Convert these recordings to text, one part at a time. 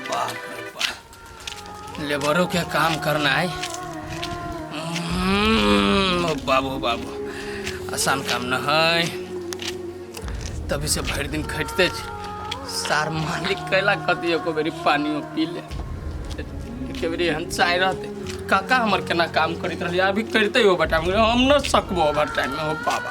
बाप रे बाप लेबरों के काम करना है हम्म, ओ बाबू बाबू आसान काम न है तभी से भरि दिन खटते छी सार मालिक कैला कति एको बेरी पानियो पी ले एके बेरी हम चाय रहते काका हमर केना काम करैत रहलियै अभी करिते हो बटा हम न सकबो ओवर टाइम में हो बाबा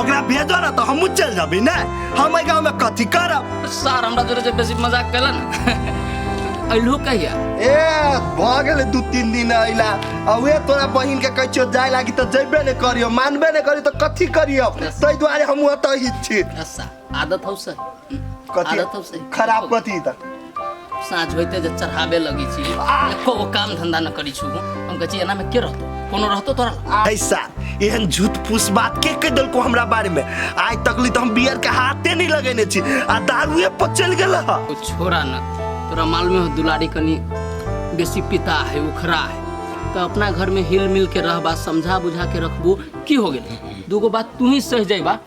ओकरा भेजो ना तो हमहू चल जाबी ना हम गाँव में कथी करब सर हमरा जोरे जे बेसी मजाक कैलन अइलू कहिया ए भ गेले दू तीन दिन अइला आ उहे तोरा बहिन के कहै छियो जाय लागी त जइबे ने करियो मानबे ने करियो त कथी करियो तै दुआरे हमहूँ एतऽ ही छी आदत हौ से कथी आदत हौ से खराब कथी त साँझ होइते जे चढ़ाबे लगी छी एको गो काम धंधा न करी छु हम कहै छी एना में के रहतो कोनो रहतो तोरा लग? ऐसा एहन झूठ फूस बात के कह देलको हमरा बारे में आज तक ली तो हम बियर के हाथे नहीं लगेने छी आ दारुए पर चल गेल ह ओ छोरा न तोरा मालूम हो दुलारी कनी बेसी पिता है उखरा है तो अपना घर में हिल मिल के रहबा समझा बुझा के रखबू की हो गेल दूगो बात तू ही सह जाइबा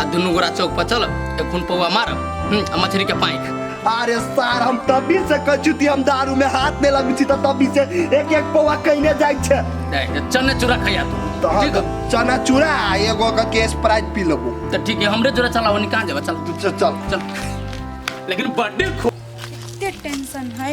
आ दुनू गोरा चौक पर चल एक खून पौआ मार हम्म, आ मछली के पाइक अरे सार हम तभी से कछु ती हम दारू में हाथ में लगू छी त तभी से एक एक पौवा कइने जाइ छै देख चने चूरा खैया तू त हम ठीक त चना चूरा आ एगो के केस प्राइज पी लेबो तो ठीक है हमरे जोरा चलाओ नहीं कहाँ जावा चल चल चल चल लेकिन बर्थडे खो टेंशन है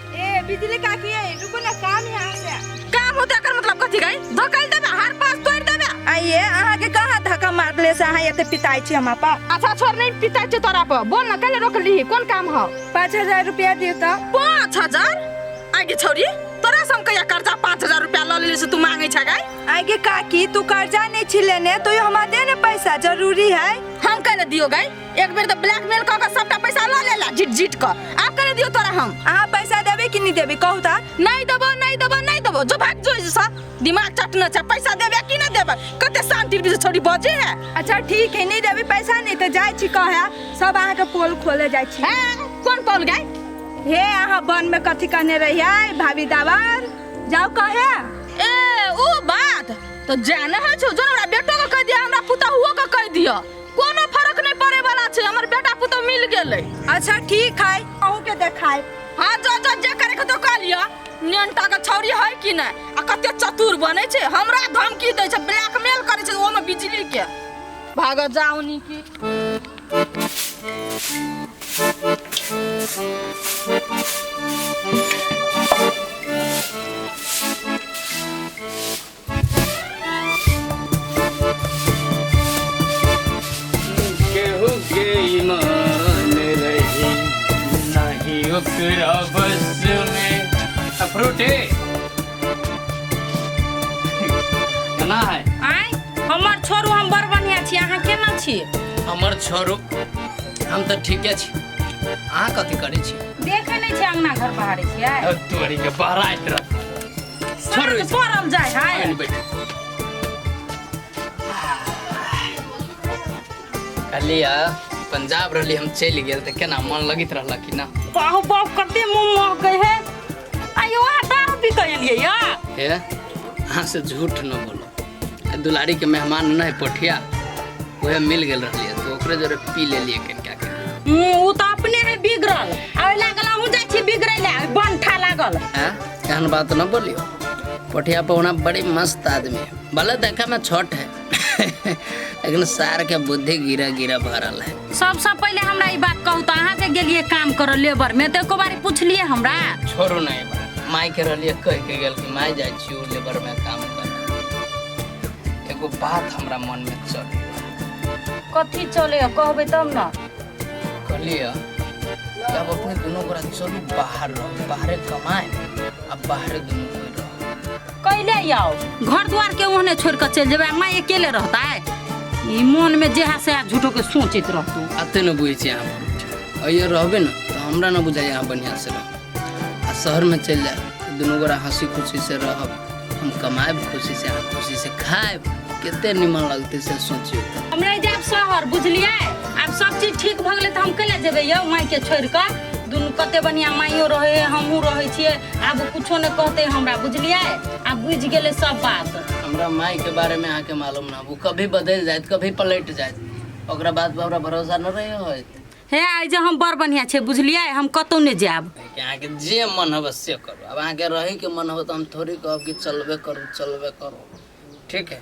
ए बिजली काकी ए रुको ना काम है हमरा काम होता कर मतलब कथी गई धकल देबे हर पास तोड़ देबे आइए अहाँ के कहाँ धक्का मार ले से अहाँ एते पिताई छी हमा पा अच्छा छोड़ नहीं पिता छे तोरा पर बोल ना कल रोक ली कौन काम हो पाँच हजार रुपया दियो तो पाँच हजार आगे छोरी तोरा से हम कहिया कर्जा पाँच हजार रुपया लऽ लेली से तू मांगे छे गई आगे काकी तू कर्जा नहीं छी लेने तो यो हमारे ने पैसा जरूरी है हम कह दियो गई एक बेर तऽ ब्लैकमेल कऽ कऽ सबटा पैसा लऽ लेला जिट जिट कऽ आब करे दियो तोरा हम अहाँ पैसा देबे कि नहीं देबे कहू ता नहीं देबो नहीं देबो नहीं देबो जो भाग जो सा दिमाग चटना छै पैसा देबे कि नहीं देबे कते शांति से छोड़ी बजे है अच्छा ठीक है नहीं देबे पैसा नहीं तो जाय छी कहे सब अहाँ के पोल खोले जाय छी हैं कौन पोल गए हे अहाँ बन में कथी कहने रहिए भाभी दावर जाओ कहे ए ओ बात तो जाना है छो जो हमरा बेटो को कह दिया हमरा पुता हुओ को कह दिया कोनो फर्क नहीं पड़े वाला छै हमर बेटा पुतौ मिल गेलै अच्छा ठीक है अहू के देखाए हाँ जो जो जे करे के तो कह लिया नेनटा के छौरी है कि नहीं आ कते चतुर बने छै हमरा धमकी दै छै ब्लैकमेल करे छै ओमे बिजली के भाग जाओ नी की केहू के ईमान रही नहीं ओकरा बस में अफ्रूट है केना है आय हमर छोरू हम बड़ बढ़िया छी अहाँ केना छी हमर छोरू हम तऽ ठीके छी अहाँ कथी करै छी देखे नहि छी अंगना घर बहारे छियै तोरी के बहराइत रह सर के पड़ल जाय हाय आइल बैठ कहलिए पंजाब रहली हम चलि गेल तऽ केना मन लगैत रहल कि ना बाहु बाप कते मुंह महकै है आइ ओहा दारू पी के एलियै या हे अहाँ से झूठ न बोलो आ दुलारी के मेहमान न है पोठिया वह मिल गेल रहली तो ओकरे जोरे पी लेलिए कनिका के हम्म, उ त अपने है बिगड़ल आ ओइ लागल अहूँ जाइ छी बिगड़ै ले बंठा लागल हैं? एहन बात न बोलियो पोठिया पहुना बड़ी मस्त आदमी है भले देखा में छोट है लेकिन सार के बुद्धि गिरा गिरा भरल है सबसे पहले हमरा ई बात कहू तो अहाँ जे गेलिए काम करऽ लेबर में तो एको बारी पूछलिए हमरा छोड़ू नहीं बात माई के रलिए कह के गेल कि माई जाइ छी उ लेबर में काम कर एगो बात हमरा मन में चल कथी चले कहबै तब न कहलिए जब अपने दोनों गोरा चलू बाहर रहो बाहरे कमाए आ बाहरे दोनों कोई रहो कैले आओ घर द्वार के ओहने छोड़ के चल जेबे माँ अकेले रहता है ई मन में जेहा से आ झूठो के सोचित रहतू आते न बुझे छी अहाँ बहुत अइए रहबे न तो हमरा न बुझाइए अहाँ बढ़िआँ से रह आ शहर में चलि जाए दुनू गोरा हँसी खुशी से रहब हम कमाएब खुशी से अहाँ खुशी से खाएब कते निमन लगते से सोचियो हम रह जाएब शहर बुझलियै आब सब चीज ठीक भऽ गेलै तऽ हम कैला जेबै यौ मायके छोड़ि कऽ दुनू कते बढ़िआँ माइयो रहै हइ हमहूँ रहै छियै आब ओ कुछो नहि कहतै हमरा बुझलियै आब बुझि गेलै सब बात हमरा माई के बारे में अहाँ के मालूम ना वो कभी बदल जायत कभी पलट जायत ओकरा बात पर हमरा भरोसा न रहे होत हे आइ जे हम बड़ बढ़िया छै बुझलियै हम कतौ नहि जायब कि अहाँके जे मन होबे से करू अब अहाँके रहैके मन होबे तऽ हम थोड़ी कहब कि चलबे करू चलबे करू ठीक है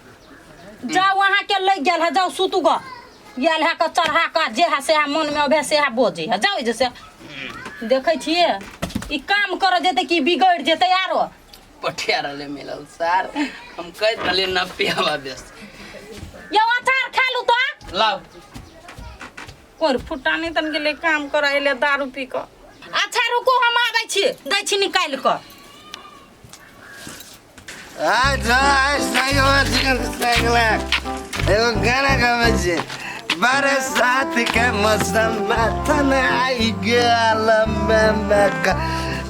जाउ अहाँ के लग गेल है जाउ सुतू ग गेल है के चढ़ा के जे है से है मन में अबे से है बोझे है जाउ जे से देखे छिए ई काम कर जेते कि बिगड़ जेते आरो पठिया रहले मिलल सर हम कह रहले न पियावा बेस यो अचार खा लू तो लाओ कोर फुटानी तन गेलै काम करऽ एलै दारू पी कऽ अच्छा रुको हम आबै छी दै छी निकालि कऽ आज जो आज सही हो चिकन सगला एगो गाना गावे छे बरसात के मौसम में थन आई गेल में में का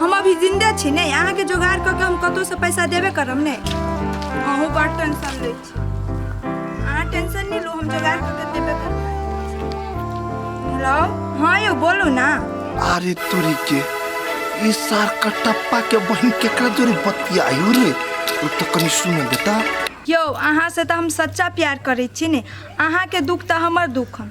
हम अभी जिंदे छी ने अहाँ के जोगाड़ क के हम कतौ से पैसा देबे करम ने अहू बड़ टेंशन ले छी अहाँ टेंशन नहीं लो हम जोगाड़ क के देबे करम हेलो हाँ यो बोलू ना अरे तुरी के ई सार कटप्पा के बहन केकरा जोरे बतियायो रे उ तो कनी सुन बेटा यो अहाँ से तो हम सच्चा प्यार करे छी ने अहाँ के दुख तो हमर दुख हम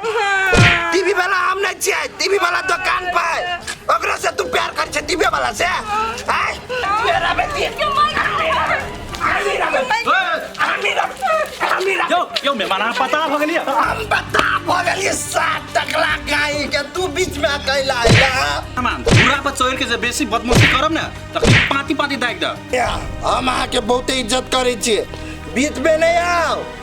टीवी वाला हम नहीं छियै टीवी वाला दुकान पर ओकरा से तू प्यार कर छै टीवी वाला से आय मेरा बेटी यो यो मेहमान अहाँ पता भऽ गेलियै हम बता भऽ गेलियै सात टकला गाय के तू बीच में अकेला आइला मेहमान पूरा पर चोर के जे बेसी बदमाशी करब ने तऽ पाँति पाँति दागि देब हम अहाँके बहुते इज्जत करै छियै बीच में नहीं आओ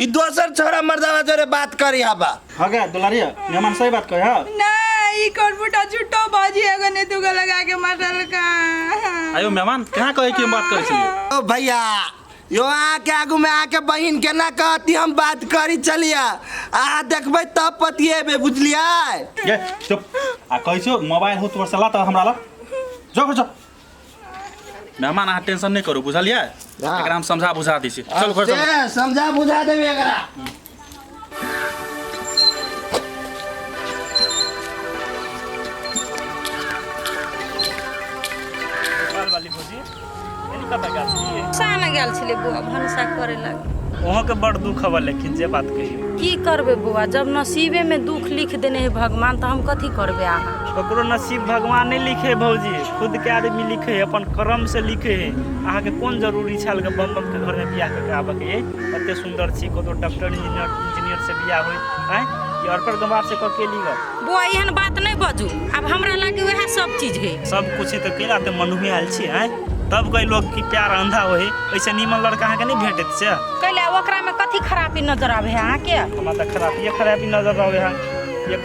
ई दोसर छोरा मर्दावा जोरे बात करी हबा हो गया दुलारिया मेहमान सही बात कहे हा ना ई कौन फुटा झूठो बाजी एगो ने दुगो लगा के मटल का आयो मेहमान कहाँ कहे कि हम बात करे छी ओ भैया यो आके आगू में आके बहिन के ना कहती हम बात करी चलिया आ देखबै तब पतिएबे बुझलियै ये चुप आ कहै छियो मोबाइल हो तोर सला त हमरा ला जो जो मेहमान अहाँ टेंशन नहीं करू बुझलिए हाँ। एकरा हम समझा बुझा दी छी चल घर चल अरे, समझा बुझा देबे एकरा सा में गेल छलै बौआ भनसा करे लगे वहाँ के बड़ दुख हवा लेकिन जे बात कही की करबै बौआ जब नसीबे में दुख लिख देने है भगवान तऽ हम कथी करबै अहाँ ककरो नसीब भगवान नहि लिखे भौजी खुद के आदमी लिखे है अपन कर्म से लिखे है अहाँ के कोन जरूरी छल के बम बम के घर में बियाह करके आबे के एते सुंदर छी कतो डॉक्टर इंजीनियर इंजीनियर से बियाह होय हैं कि और पर गंवार से कके ली गो बो एहन बात नहीं बजू अब हमरा लगे वह सब चीज है सब कुछ तो केला ते मनुहे आयल छी हैं तब कई लोग की प्यार अंधा होय ऐसे नीमन लड़का अहाँ के नहीं भेटत से कैले ओकरा में कथी खराबी नजर आवे है अहाँ के हमरा तो खराब ये खराबी नजर आवे है एक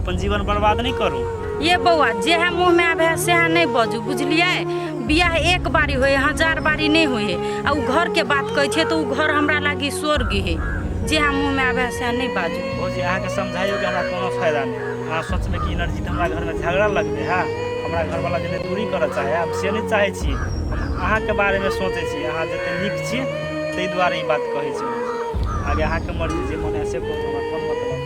अपन जीवन बर्बाद नहि करू ये बौआ जएह मुँहमे आबे सएह नहि बजू बुझलियै बियाह एक बारी होइ हजार बारी नहि होइ आ ओ घरके बात कहै छै तऽ ओ घर हमरा लागी स्वर्ग है जएह मुँहमे आबे सएह नहि बाजू भौजी अहाँके समझाइयो के हमरा कोनो फायदा नहि अहाँ सोचबै कि एनर्जी तऽ हमरा घरमे झगड़ा लगबै है हमरा घरवाला जे दूरी करऽ चाहे हम से नहि चाहै छी हम अहाँके बारेमे सोचै छी अहाँ जते नीक छी ताहि दुआरे ई बात कहै छी आगे अहाँके मर्जी जे मन है से करू हमरा कोन मतलब